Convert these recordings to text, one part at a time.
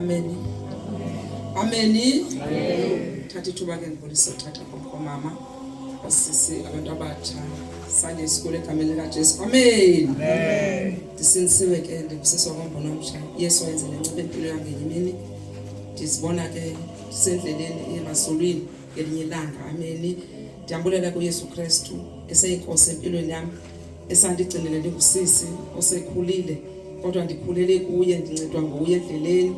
Ameni. Ameni. Thatha ithuba ke ndibulise uthatha komama basisi abantu abatsha sanye isikole egameni likajesu amen ndisinisiwe ke ndibusiswa kombona omtsha yesu wayenzele ncebe impilo yam ngenye imini ndizibona ke ndisendleleni emaswulwini ngelinye ilanga ameni ndiyambulela kuyesu kristu eseyinkosi empilweni yam esandigcinele ndingusisi osekhulile kodwa ndikhulele kuye ndincedwa nguye endleleni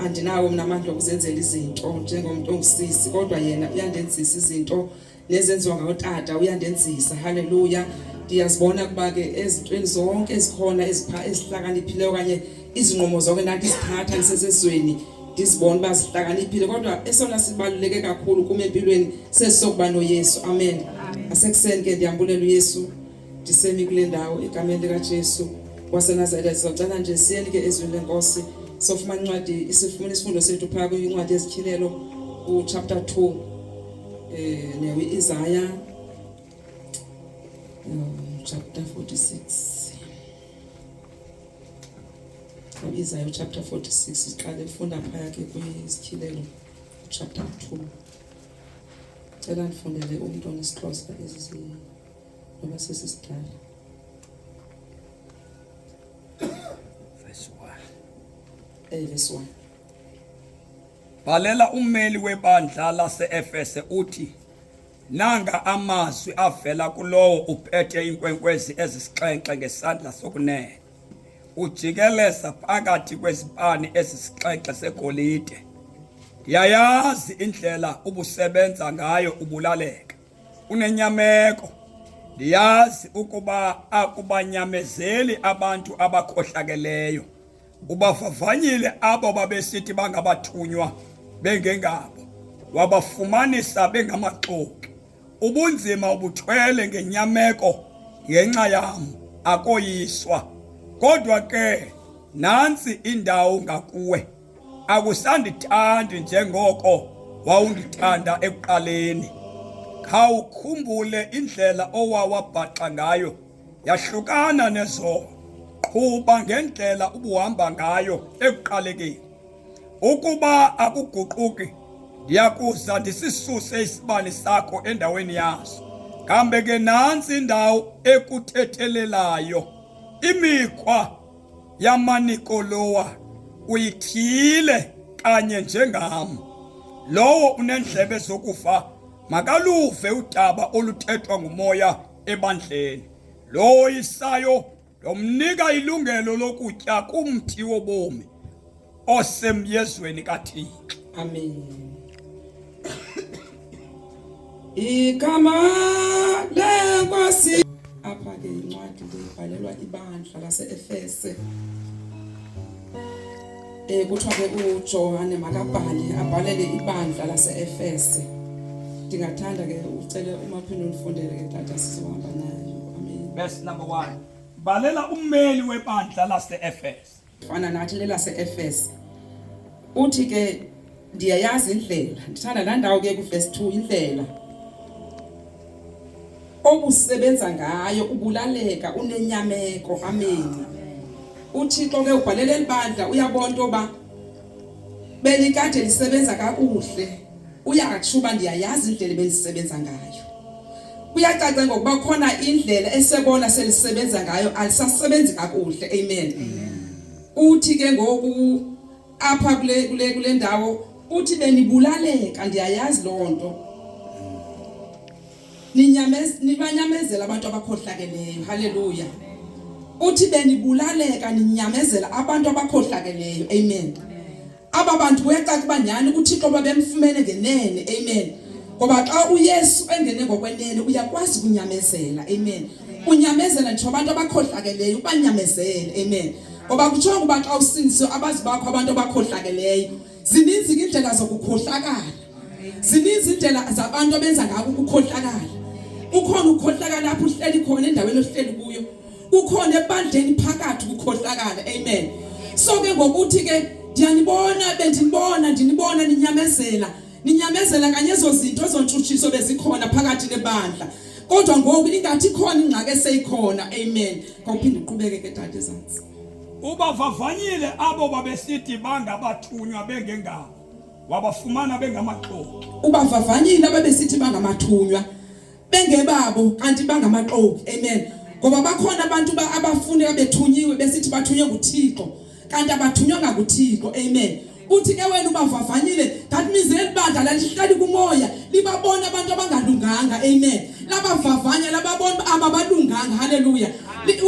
andinawo mna amandla okuzenzela izinto njengomntu ongusisi kodwa yena uyandenzisa izinto nezenziwa ngotata uyandenzisa haleluya ndiyazibona kuba ke ezintweni zonke ezikhona ezihlakaniphileyo okanye izinqumo zonke ndathi zithatha ndisesezweni ndizibona uba sihlakaniphile kodwa esona sibaluleke kakhulu kum empilweni sesisokuba noyesu amen asekuseni ke ndiyambulela uyesu ndisemi kule ndawo egameni likajesu wasenazaretha sizocela nje siyeni ke ezwini lenkosi sofumana incwadi sifumana isifundo sethu phaa kwincwadi ezityhilelo kuchapter 2 um eh, newi-isaya um, chapter 46 Izayo chapter 46 siqale funda phaya ke kwizityhilelo chapter 2 cela ndifundele umntu onesixhosa ezi noba sesisidala eh, verse 1 bhalela ummeli webandla laseefese uthi Nanga amazwi avela kulowo uphethe iinkwenkwezi ezisixhenxe ngesandla sokunene, ujikeleza phakathi kwezipani ezisixhenxe segolide. Yayazi indlela ubusebenza ngayo ubulaleka, unenyameko. Ndiyazi ukuba akubanyamezeli abantu abakhohlakeleyo. Ubavavanyile abo babesithi bangabathunywa bengengabo, wabafumanisa bengamaxoki. Ubunzima ubuthwele ngenyameko ngenxa yam, akoyiswa. Kodwa ke nantsi indawo ngakuwe, akusandithandi njengoko wawundithanda ekuqaleni. Khawukhumbule indlela owawabhaxa ngayo. yahlukana nezono. Qhuba ngendlela ubuhamba ngayo ekuqalekeni. Ukuba akuguquki, ndiyakuza ndisisuse isibane sakho endaweni yaso. Kambe ke nantsi indawo ekuthethelelayo imikhwa yamanikolowa uyithile kanye njengam. Lowo unendlebe zokufa makaluve udaba oluthethwa ngumoya ebandleni. Lowo isayo ndomnika ilungelo lokutya kumthi wobomi osemyezweni kaThixo. Amen. Igama lenkosi apha ke incwadi ibhalelwa ibandla lase-Efese. Eh kuthiwa ke uJohane makabhale abhalele ibandla laseEfese. Ndingathanda ke ucele umaphini undifundele ke tata sizohamba nayo. Amen. Verse number 1. Balela ummeli webandla laseEfese. Fana nathi lelaseEfese. Uthi ke ndiyayazi indlela ndithanda laa ndawo ke kuvesi two indlela obusebenza ngayo ubulaleka unenyameko ameni uthixo ke ubhalele elibandla uyabona into yoba belikade lisebenza kakuhle uyatsho uba ndiyayazi indlela ebelisebenza ngayo kuyacaca ngokuba khona indlela esebona selisebenza ngayo alisasebenzi kakuhle amen uthi ke ngoku apha kule kule kule ndawo uthi benibulaleka ndiyayazi loo nto nibanyamezela abantu abakhohlakeleyo halleluya uthi benibulaleka ninyamezela abantu abakhohlakeleyo amen aba bantu kuyacaca uba nyhani uthixo babemfumene ngenene amen ngoba xa uyesu engene ngokwenene uyakwazi kunyamezela amen unyamezele nje abantu abakhohlakeleyo ubanyamezele amen ngoba kuthiwa ukuba xa usindiswe abazi bakho abantu abakhohlakeleyo zininzi indlela zokukhohlakala zininzi indlela zabantu abenza ngako ukukhohlakala ukhona ukukhohlakala lapho uhleli khona endaweni ohleli kuyo ukhona ebandleni phakathi ukukhohlakala amen so ke ngokuthi ke ndiyanibona bendinibona ndinibona ninyamezela ninyamezela kanye ezo zinto ezontshutshiso bezikhona phakathi nebandla kodwa ngoku ingathi khona ingxaki eseyikhona amen ngawuphinde uqhubeke ke dade ezantsi ubavavanyile abo babesithi bangabathunywa bengengabo wabafumana bengamaxoki ubavavanyile ababesithi bangamathunywa bengebabo kanti bangamaxoki amen ngoba bakhona abantu abafuneka bethunyiwe besithi bathunywe nguThixo kanti abathunywanga nguThixo amen uthi ke wena ubavavanyile that means elibandla lalihlali kumoya libabona abantu abangalunganga amen labavavanya lababona ababalunganga haleluya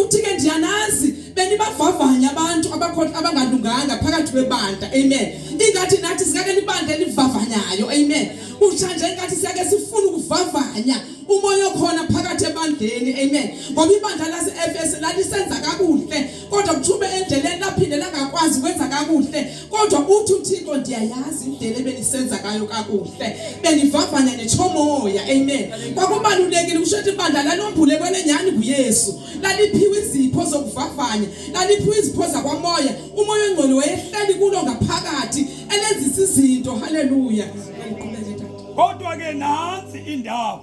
uthi ke ndiyanazi benibavavanya abantu abakhohla abangalunganga phakathi kwebandla amen ingathi nathi sikake libandla elivavanyayo amen kutsha nje inkathi siyake sifuna ukuvavanya umoya okhona phakathi ebandleni amen ngoba ibandla lase-efesu lalisenza kakuhle kodwa kuthume endleleni laphinde langakwazi ukwenza kakuhle kodwa uthi uthixo ndiyayazi indlela ebenisenza kayo kakuhle benivavanya netshomoya amen kwakubalulekile kusho ukuthi ibandla lalombule kwenenyhani nguyesu laliphiwe izipho zokuvavanya laliphiwe izipho zakwamoya umoya ongcwele wayehleli kulo ngaphakathi elenzisa izinto haleluya kodwa ke nansi indawo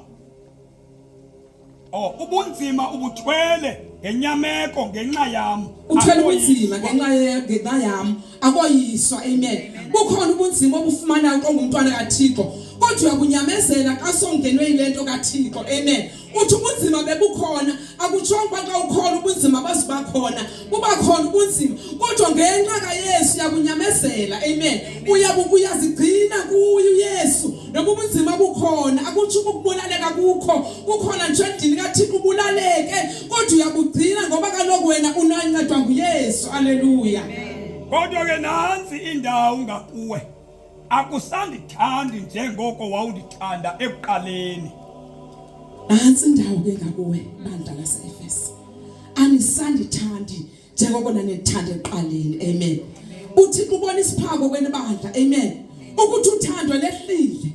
oh ubunzima ubuthwele ngenyameko ngenxa yam uthwele ubunzima ngenxa ngenxa yam akoyiswa amen kukhona ubunzima obufumanayo qongumntwana kaThixo kodwa uyakunyamezela kasongenwe ile nto kaThixo amen uthi ubunzima bebukhona akutshongo uba xa ukhona ubunzima baziba khona buba khona ubunzima kodwa ngenxa kayesu uyakunyamezela amen uyazigcina kuye uyesu noba ubunzima bukhona akutsho uba ukubulaleka kukho kukhona nje endini kathixo ubulaleke kodwa uyabugcina ngoba kaloku wena unancedwa nguyesu aleluya kodwa ke nansi indawo ngakuwe Akusandithandi njengoko wawundithanda ekuqaleni. Antsi ndawo ke ngakuwe bandla laseEfesu. Anisandithandi njengoko nanithanda ekuqaleni. Amen. Uthixo ubona isiphako kwenibandla. Amen. Ukuthi uthando lehlile.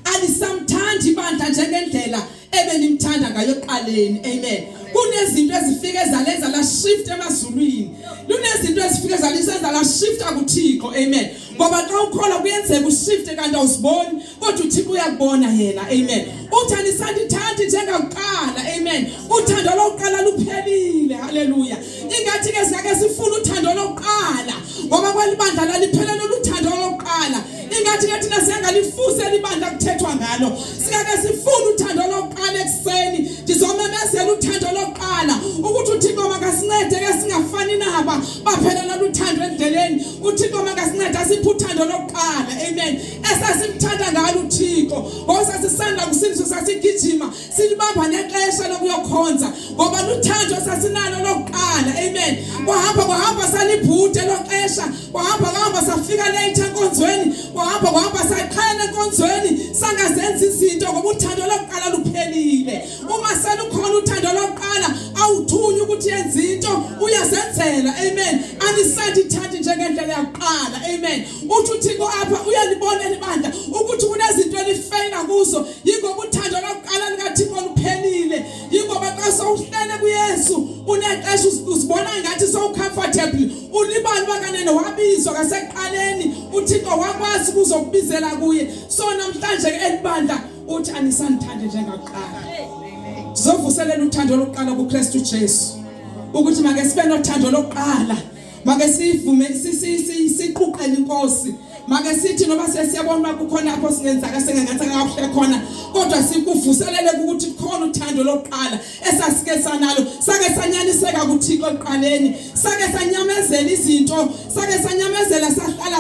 alisamthandi ibandla njengendlela ebenimthanda ngayo eqaleni amen kunezinto ezifike zalenza la shift emazulwini lunezinto ezifike zalisenza la shift akuthixo amen ngoba xa ukholwa kuyenzeka ushift kanti awusiboni kodwa uthixo uyakubona yena amen uthandi sandithandi njengakuqala amen uthando lokuqala luphelile haleluya ingathi ke singake sifuna uthando lokuqala ngoba kwalibandla laliphelele ingathi ke thina siyangalifusa elibandla kuthethwa ngalo singake sifune uthando lokuqala ekuseni ndizomemezela uthando lokuqala ukuthi uthixo makasincede ke singafani naba baphelela luthando endleleni uthixo makasincede asiphe uthando lokuqala amen esasimthanda ngalo uthixo ngoba sasisanda kusindiswa sasigijima silibamba nexesha lokuyokhonza ngoba luthando sasinalo lokuqala amen kwahamba kwahamba salibhute loxesha kwahamba kwahamba safika late enkonzweni kwahamba kwahamba saqhela enkonzweni sangazenza izinto ngoba uthando lokuqala luphelile uma selukhona uthando lokuqala awuthunywa ukuthi yenze into uyazenzela amen anisandithandi njengendlela yakuqala amen uthi uthixo apha uyalibona libandla ukuthi kunezinto elifeyila kuzo yingoba uthando lokuqala likaThixo luphelile yingoba xa sowuhlele kuYesu unexesha uzibona ngathi sowucomfortable ulibala uba kanene wabizwa kaseqaleni uThixo wakwazi kuzokubizela kuye so namhlanje ke elibandla uthi anisandithande njengakuqala sizovuselela uthando lokuqala kuKristu Jesu ukuthi make sibe nothando lokuqala make sivume siquqele inkosi make sithi noma sesiyabona uba kukhona apho singenzaka sengengathi akakuhle khona kodwa sikuvuselele ukuthi kukhona uthando lokuqala esasike sanalo sake sanyaniseka kuthixo ekuqaleni sake sanyamezela izinto sake sanyamezela sahlala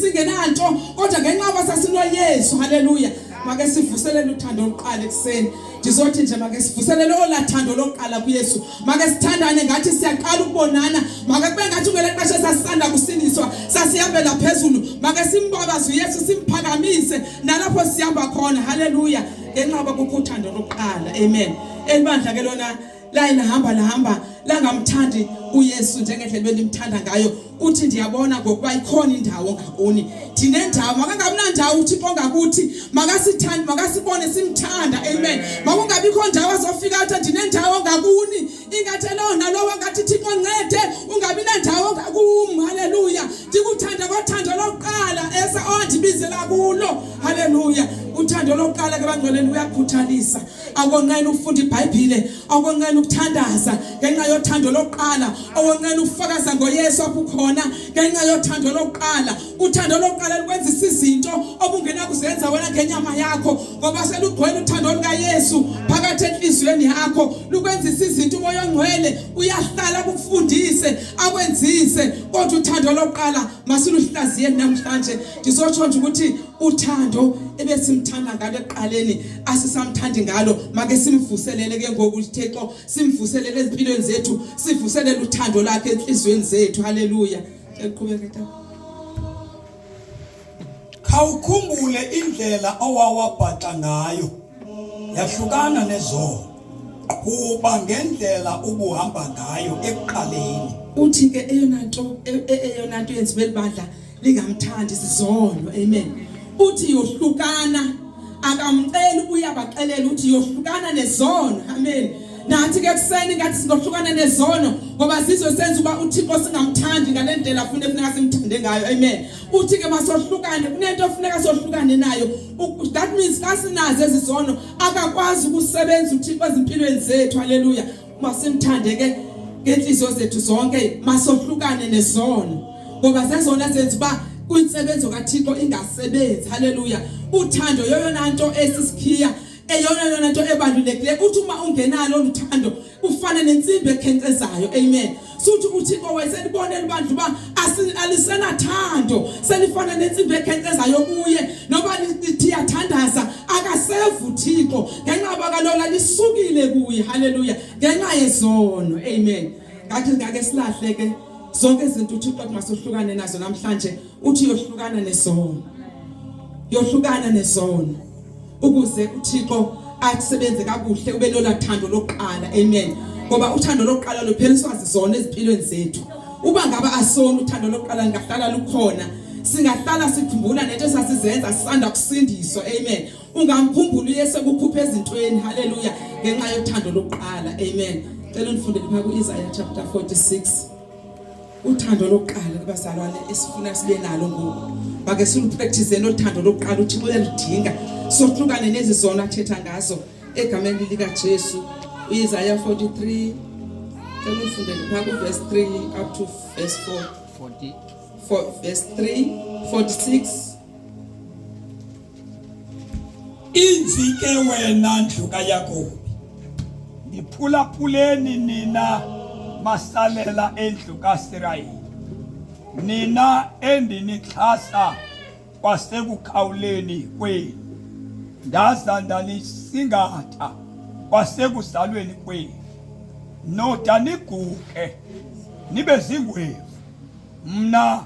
singenanto kodwa ngenxa yoba sasinoyesu haleluya make sivuselele uthando lokuqala ekuseni ndizothi nje make sivuselele ola thando lokuqala kuyesu make sithandane ngathi siyaqala ukubonana make kube ngathi ngele xesha sasisanda kusindiswa sasihambela phezulu make simbabaze uyesu simphakamise nalapho sihamba khona haleluya ngenxa yoba kukho uthando lokuqala amen elibandla ke lona laye lahamba lahamba langamthandi uyesu njengendlela bendimthanda ngayo uthi ndiyabona ngokuba ikhona indawo ngakuni ndinendawo makangamnandawo uthixo ngakuthi makasithande makasibone simthanda amen makungabikho ndawo azofika athi ndinendawo ngakuni ingathi loo nalowo ngathi thixo ncede ungabi nendawo ngakum halleluya ndikuthanda ngothando lokuqala esa ondibizela kulo halleluya uthando lokuqala ke bangcweleni uyakhuthalisa akonqena ukufunda ibhayibhile akonqena ukuthandaza ngenxa yothando lokuqala akonqena ukufakaza ngoyesu apho ukhona ngenxa yothando lokuqala uthando lokuqala lukwenzisa izinto obungenakuzenza wena ngenyama yakho ngoba selugcwele uthando lukayesu phakathi enhliziyweni yakho lukwenzisa izinto umoya ongcwele uyahlala kufundise akwenzise kodwa uthando lokuqala masiluhlaziyeni namhlanje ndizotsho nje ukuthi uthando ebesimthanda ngalo eqaleni asisamthandi ngalo make simvuselele ke ngoku uThixo simvuselele ezimpilweni zethu sivuselele uthando lakhe enhlizweni zethu haleluya eqhubeke ta khawukhumbule indlela owawabhaxa ngayo yahlukana nezona kuba ngendlela ubuhamba ngayo ekuqaleni uthi ke eyona nto e- e- eyona nto yenza belibandla lingamthandi sizono amen uthi yohlukana akamceli uyabaxelela uthi yohlukana nezono amen nathi ke kuseni ngathi singohlukana nezono ngoba sizwe senza uba uThixo singamthandi ngale ndlela afune funeka simthande ngayo amen uthi ke masohlukane kunento ofuneka sohlukane nayo that means kasinazo ezizono akakwazi ukusebenza uThixo ezimpilweni zethu haleluya masimthande ke ngenhliziyo zethu zonke masohlukane nesono ngoba zezona zenza uba kwinsebenzo kaThixo ingasebenzi haleluya uthando yoyona nto esisikhiya eyona yona nto ebalulekileyo uthi uma ungenalo uthando ufane nentsimbi ekhenkcezayo amen suthi uthixo wayeselibonela ibandla uba alisenathando selifana nentsimbi ekhenkcezayo kuye noba liyathandaza akasevu thixo ngenxa yoba kalola lisukile kuye halleluya ngenxa yezono amen ngathi ngake silahle ke zonke izinto uthixo kungasohlukane nazo namhlanje uthi yohlukana nezono yohlukana nezono ukuze uThixo asebenze kakuhle ube lola thando lokuqala amen ngoba uthando lokuqala lupheliswa zizona ezimpilweni zethu uba ngaba asona uthando lokuqala ngahlala lukhona singahlala sikhumbula nento sasizenza sisanda kusindiswa amen ungamkhumbula uyese kukhupha ezintweni haleluya ngenxa yothando lokuqala amen cela undifundele pha ku-Isaiah chapter 46 uthando lokuqala kubazalwane esifuna sibe nalo ngoku make siluprakthize nothando lokuqala uthixo uyaludinga sohlukane nezi zona athetha ngazo egameni likajesu uyisaya 43 cela ufundele phaa kuvesi 3 up to vesi 4 vesi 3 46 Inzi ke wena ndlu kaYakobi, ndiphulaphuleni nina masalela endlu kaSirayeli, nina endinixhasa kwasekukhawuleni kwenu, ndaza ndanisingatha kwasekuzalweni kwenu, noda niguke nibe zingwevu mna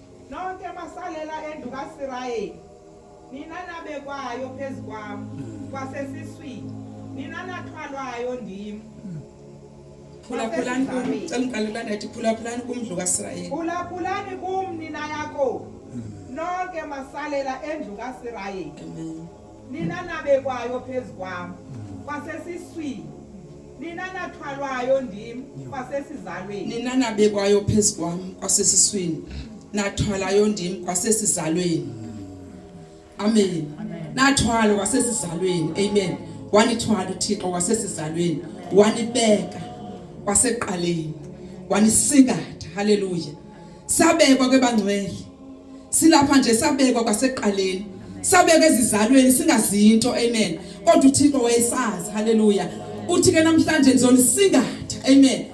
nonke masalela endlu kasirayeli nina nabekwayo phezu kwam kwasesiswini nina nathwalwayo ndim phulaphulani kum cela ndiqalelana ndithi phulaphulani kumndlu kasirayeli phulaphulani kum nina yakobo nonke masalela endlu kasirayeli nina nabekwayo phezu kwam kwasesiswini nina nathwalwayo ndim kwasesizalweni nina nabekwayo phezu kwam kwasesiswini nathwalayo ndim kwasesizalweni amen nathwalo kwasesizalweni amen wanithwala uthixo kwasesizalweni wanibeka kwaseqaleni wanisingatha haleluya sabekwa kwebangcwele silapha nje sabekwa kwaseqaleni sabekwa ezizalweni singazinto amen kodwa uThixo wayesazi haleluya uthi ke namhlanje ngizonisingatha amen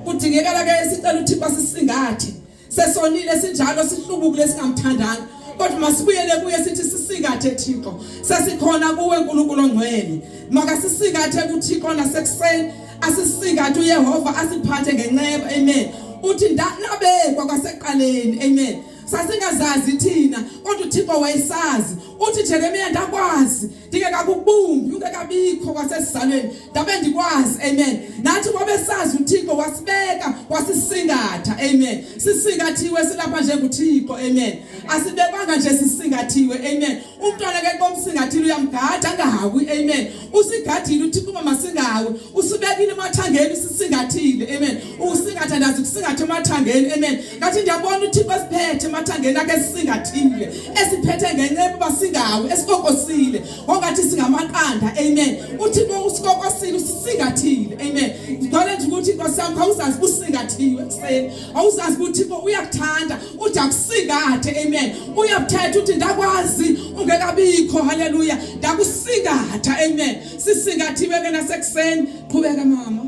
kudingekala ke sicela uThixo asisingathe sesonile sinjalo sihlubukile singamthandanga kodwa masibuyele kuye sithi sisingathe Thixo sesikhona kuwe uNkulunkulu ongcwele makasisingathe kuThixo nasekuseni asisingathe uyehova asiphathe ngenceba amen uthi ndanabekwa kwaseqaleni amen sasingazazi thina kodwa uThixo wayesazi uthi Jeremiya ndakwazi ndingekakubumbi ungekabikho kwasesizalweni ndabe ndikwazi amen nathi wabesazi uThixo wasibeka wasisingatha amen sisingathiwe silapha njengoThixo amen asibekwanga nje sisingathiwe amen umntwana ke xa umsingathile uyamgada angahawi amen usigadile uthixo uba masingahawi usibekile emathangeni sisingathile amen usingatha ndazi kusingatha emathangeni amen ngathi ndiyabona uthixo esiphethe emathangeni akhe sisingathile esiphethe ngenceba uba singahawi esikokosile ongathi singamaqanda amen uthixo usikokosile usisingathile amen ndidole nje ukuthi nkosi yam khawuzazi usingathiwe ekuseni awuzazi ukuthi uthixo uyakuthanda uja kusingathe amen uyabuthetha uthi ndakwazi ungekabikho haleluya ndakusingatha amen sisingathiwe ke nasekuseni qhubeka mama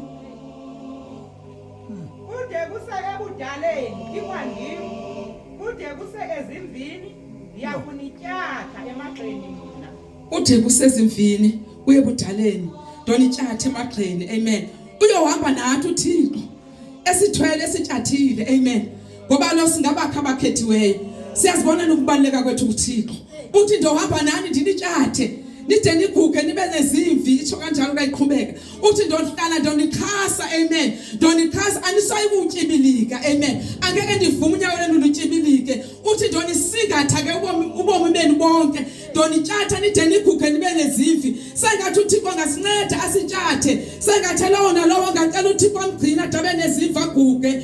kude kuse ebudaleni ikwangim kude kuse ezimvini ndiyakunityatha emagxeni mna ude kusezimvini kuye budaleni ndonityatha emagxeni amen uyohamba nathi uthixo esithwele esitshathile amen ngoba lo singabakha abakhethiweyo siyazibona nokubaleka kwethu kuThixo uthi ndohamba nani ndinitshathe nide niguge nibe nezimvi itsho kanjalo kayiqhubeka uthi ndonihlala ndonixhasa amen ndonixhasa anisayi kutyibilika amen angeke ndivume unyawo lenu lutyibilike uthi ndonisingatha ke ubomi ubomi benu bonke ndonitshatha nide niguge nibe nezivi sengathi uthixo angasinceda asitshathe sengathi lowo nalowo ngacela uthixo amgcina dabe neziva guge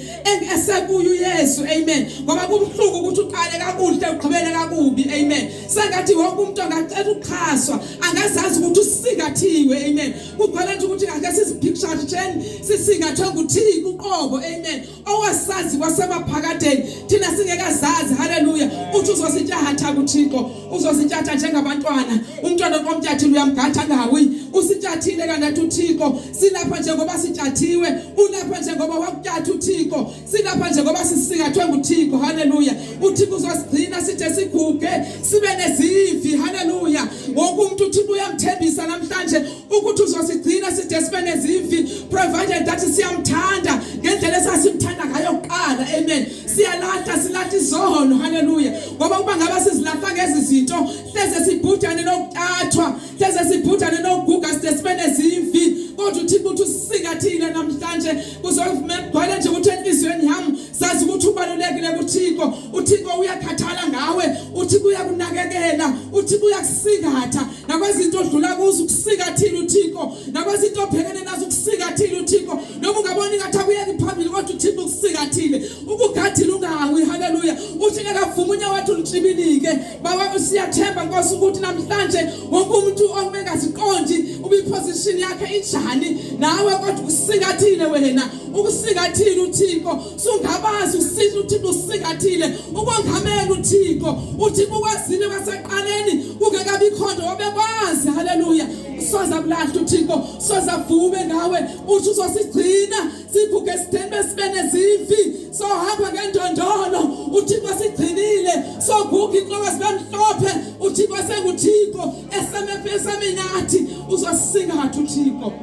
esekuyo uyesu amen ngoba kubuhlungu ukuthi uqale kakuhle ugqibele kakubi amen sengathi wonke umuntu angacela ukuxhaswa angazazi ukuthi usingathiwe amen kugcwele nje ukuthi ngake siziphicture sheni sisingathwe nguthixo uqobo amen owasazi kwasemaphakadeni thina singekazazi haleluya uthi uzosityahatha kuthixo uzosityahatha njengabantwana umntwana komtyathile uyamgatha angawi usityathile kanti uthixo silapha njengoba sityathiwe ulapha njengoba wakutyatha uthixo silapha njengoba sisingathwe nguthixo haleluya uthixo uzosigcina sithe siguge sibe nezivi haleluya wonke umntu uthixo uyamthembisa namhlanje ukuthi uzosigcina side sibe nezimvi provided that siyamthanda ngendlela esasimthanda ngayo kuqala amen siyalahla silahla izono haleluya ngoba kuba ngaba sizilahla ngezi zinto hleze sibhudane nokutathwa hleze sibhudane nokuguga side sibe nezimvi kodwa uthixo uthi usisika thina namhlanje kuzovuma ekugcwele nje ukuthi enhliziyweni yami sazi ukuthi ubalulekile kuthixo uthixo uyakhathala ngawe uthixo uyakunakekela uthixo uyakusingatha nakwezinto odlula kuzo ukusika thina uthixo nakwezinto obhekene nazo ukusika thina uthixo noma ungaboni ngathi akuyeki phambili kodwa uthixo ukusika thile ukugadile ungawi haleluya uthi ngekavuma unyawo wathi ulitshibilike baba siyathemba nkosi ukuthi namhlanje wonke umuntu ongaziqondi ubiposition yakhe injani nawe kodwa ukusika thile wena ukusika thile uthixo sungabazi usithi uthixo usingathile ukongamela uthixo uthixo ukwazile kwaseqaleni kungekabikho nto obekwazi haleluya soza kulahla uthixo soza vume ngawe uthi uzosigcina siguge sitheni besibe nezimfi sohamba ngendondolo uthixo sigcinile soguga inhloko sibe mhlophe uthixo senguthixo esemepesame nathi uzosingatha uthixo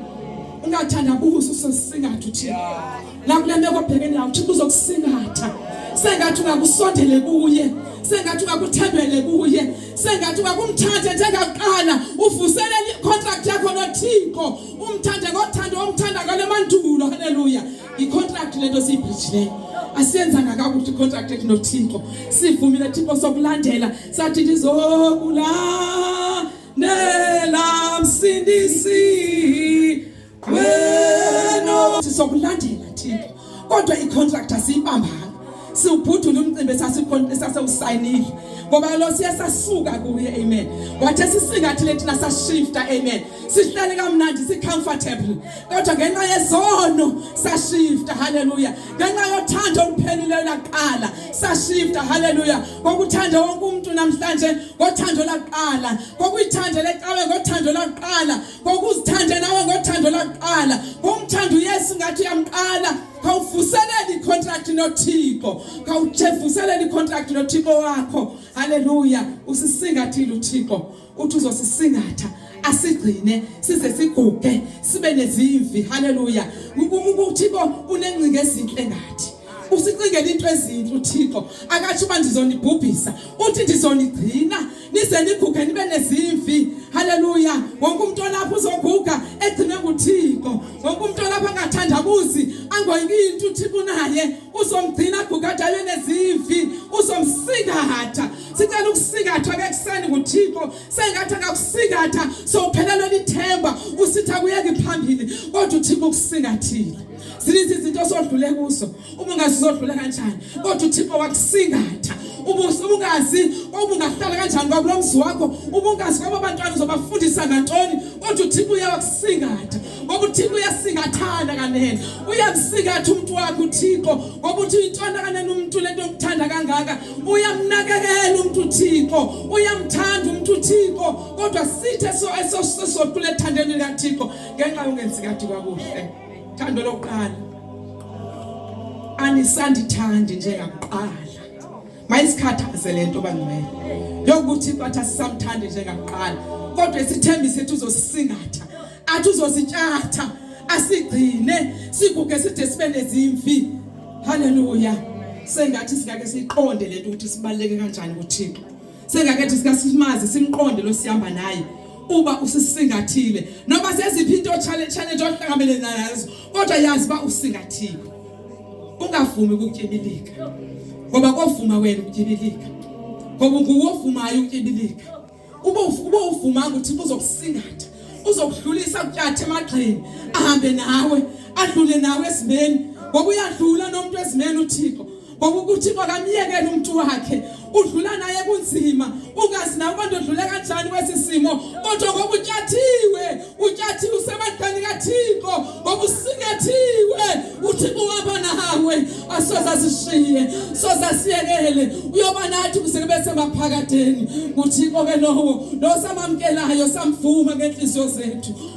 ungathandabuzi usosingatha uthixo nakule meko obhekene nawo uthixo uzokusingatha sengathi ungakusondele kuye sengathi ungakuthembele kuye sengathi ungakumthathe njengakuqala uvuselele icontract yakho nothixo umthande ngothando omthanda ngale mandulo haleluya icontract lento siyibhijileyo asiyenzanga kakuhle icontract ethu nothixo sivumile thixo sokulandela sathi ndizokulandela msindisi wena sizokulandela thina kodwa icontract asiyibambanga siwubhudula umcimbi esasewusayinile ngoba lo siye sasuka kuye amen wathe sisingathi lethina sashifta amen sihlale kamnandi sicomfortable kodwa ngenxa yezono sashifta haleluya ngenxa yothando olupheleleyo laqala sashifta haleluya ngokuthanda wonke umuntu namhlanje ngothando laqala ngokuyithanda lecawe ngothando laqala ngokuzithanda nawe ngothando lakuqala ngomthanda uyesu ngathi uyamqala khawuvuselele icontract nothixo khawujevuselele icontract nothixo wakho haleluya usisingathile uthixo uthi uzosisingatha asigcine size siguge sibe nezimvi haleluya uthixo unengcinga ezinhle ngathi usicingela into ezinhle uthixo akatsho uba ndizonibhubhisa uthi ndizonigcina nize niguge nibe nezimvi haleluya wonke umntu olapha uzoguga egcine nguthixo wonke umntu olapha angathandabuzi angoyiki into uthixo unaye uzomgcina aguge adale nezimvi uzomsingatha sicela ukusingathwa ke kuseni nguthixo sengathi akakusingatha sowuphelelwe lithemba usitha kuyeki phambili kodwa uthixo ukusingathile zininzi izinto osodlule kuzo uba ungazi uzodlula kanjani kodwa uthixo wakusingatha ubungazi ubungahlala kanjani kwakulo mzi wakho ubungazi kwabo bantwana uzobafundisa ngantoni kodwa uthixo uyawakusingatha ngoba uthixo uyasingathana kanene uyamsingatha umntu wakhe uthixo ngoba uthi uyintwana kanene umntu lento yokuthanda kangaka uyamnakekela umntu uthixo uyamthanda umntu uthixo kodwa sithe so esosodlule ethandeni likathixo ngenxa yongenzi kade kwakuhle Thando lokuqala. Anisandithandi njengakuqala. Mayisikhathaze lento bangcwele. Yokuthi bathi asisamthandi njengakuqala. Kodwa isithembi sethu uzosisingatha. Athi uzositshatha. Asigcine siguge side sibe nezimfi. Hallelujah. Sengathi singake siqonde lento ukuthi sibaleke kanjani kuThixo. sengakethi sikasimazi simqonde lo sihamba naye uba usisingathile noba seziphi into challenge challenge ohlangabele nazo kodwa yazi ba usingathile ungavumi ukutyibilika ngoba kovuma wena ukutyibilika ngoba nguwovumayo ukutyibilika uba uba uvumanga uthi uzokusingatha uzokuhlulisa kutyathe emagxini ahambe nawe adlule nawe esimeni ngoba uyadlula nomuntu esimeni uThixo ngoba ukuthi makamyekele umuntu wakhe udlula naye kunzima ungazi nawe ubantu odlule kanjani kwesi simo kodwa ngoba utyathiwe utyathiwe usemadlani kathixo ngoba usikethiwe uthixo uhamba nawe asoze asishiye soze asiyekele uyoba nathi kuze kube semaphakadeni nguthixo ke lowo lo samamkelayo samvuma ngentliziyo zethu